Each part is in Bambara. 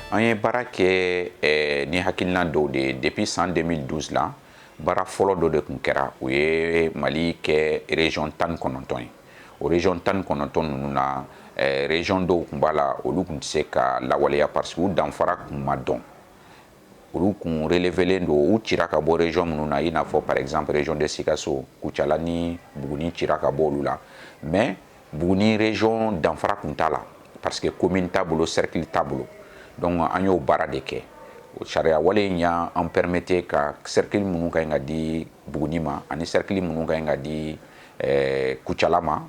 an ye baara kɛ eh, ni hakilina dɔw de depuis san 2012 la baara fɔlɔ dɔ de kun kɛra o ye Mali kɛ région tan ni kɔnɔntɔn ye o région tan ni kɔnɔntɔn ninnu na eh, région dɔw kun b'a la olu kun tɛ se ka lawaleya parce que u danfara kun ma dɔn olu kun relevelen don u cira ka bɔ région minnu na i n'a fɔ par exemple région de Sikaso Kucala ni Buguni cira ka bɔ olu la mais Buguni région danfara kun t'a la parce que commune t'a bolo cercle t'a bolo donc an y'o baara de kɛ o sariya wale in y'an permettre ka cercle minnu ka ɲi ka di Buguni ma ani cercle minnu ka ɲi ka di eh, Kucala ma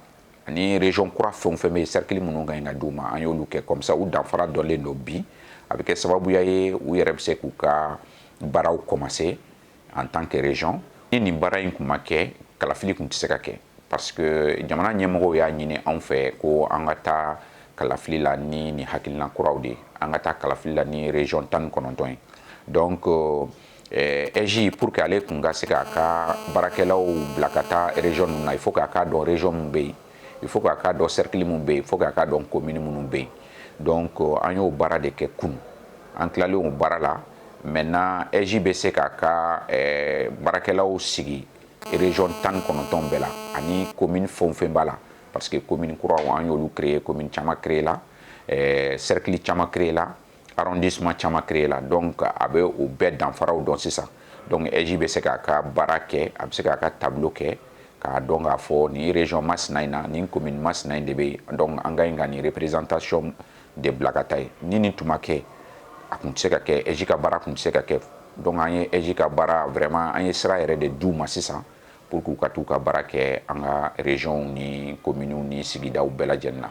ani région kura fɛn o fɛn bɛ yen cercle minnu ka ɲi ka d'u ma an y'olu kɛ comme ça u danfara dɔnlen don bi a bɛ kɛ sababuya ye u yɛrɛ bɛ se k'u ka baaraw commencer en tant que région ni nin baara in kun ma kɛ kalafili kun tɛ se ka kɛ parce que jamana ɲɛmɔgɔw y'a ɲini anw fɛ ko an ka taa kalafili la ni nin hakilina kuraw de an ka taa kalafili la ni région tan ni kɔnɔntɔn ye donc euh, AIGE eh, pour que ale kun ka se k'a ka baarakɛlaw bila ka taa région ninnu na il faut k'a k'a dɔn région min bɛ yen il faut k'a k'a dɔn cercle min bɛ yen il faut k'a k'a dɔn commune minnu bɛ yen donc euh, an y'o baara de kɛ kunu an tilalen o baara la maintenant AIGE bɛ se k'a ka eh, baarakɛlaw sigi région tan ni kɔnɔntɔn bɛɛ la ani commune fɛn o fɛn b'a la parce que commune kuraw an y'olu créer commune caman créer la eh, cercle caman créer la arrondissement caman créé la donc a bɛ o bɛɛ danfaraw dɔn sisan donc AIGE bɛ se k'a ka baara kɛ a bɛ se k'a ka tableau kɛ k'a dɔn k'a fɔ nin région masina in na nin commune masina in de bɛ yen donc an ka ɲi ka nin représentation de bila ka taa yen ni nin tun ma kɛ a kun tɛ se ka kɛ AIGE ka baara kun tɛ se ka kɛ donc an ye AIGE ka baara vraiment an ye sira yɛrɛ de d'u ma sisan pour que u ka t'u ka baara kɛ an ka régionw ni communew ni sigidaw bɛɛ lajɛlen na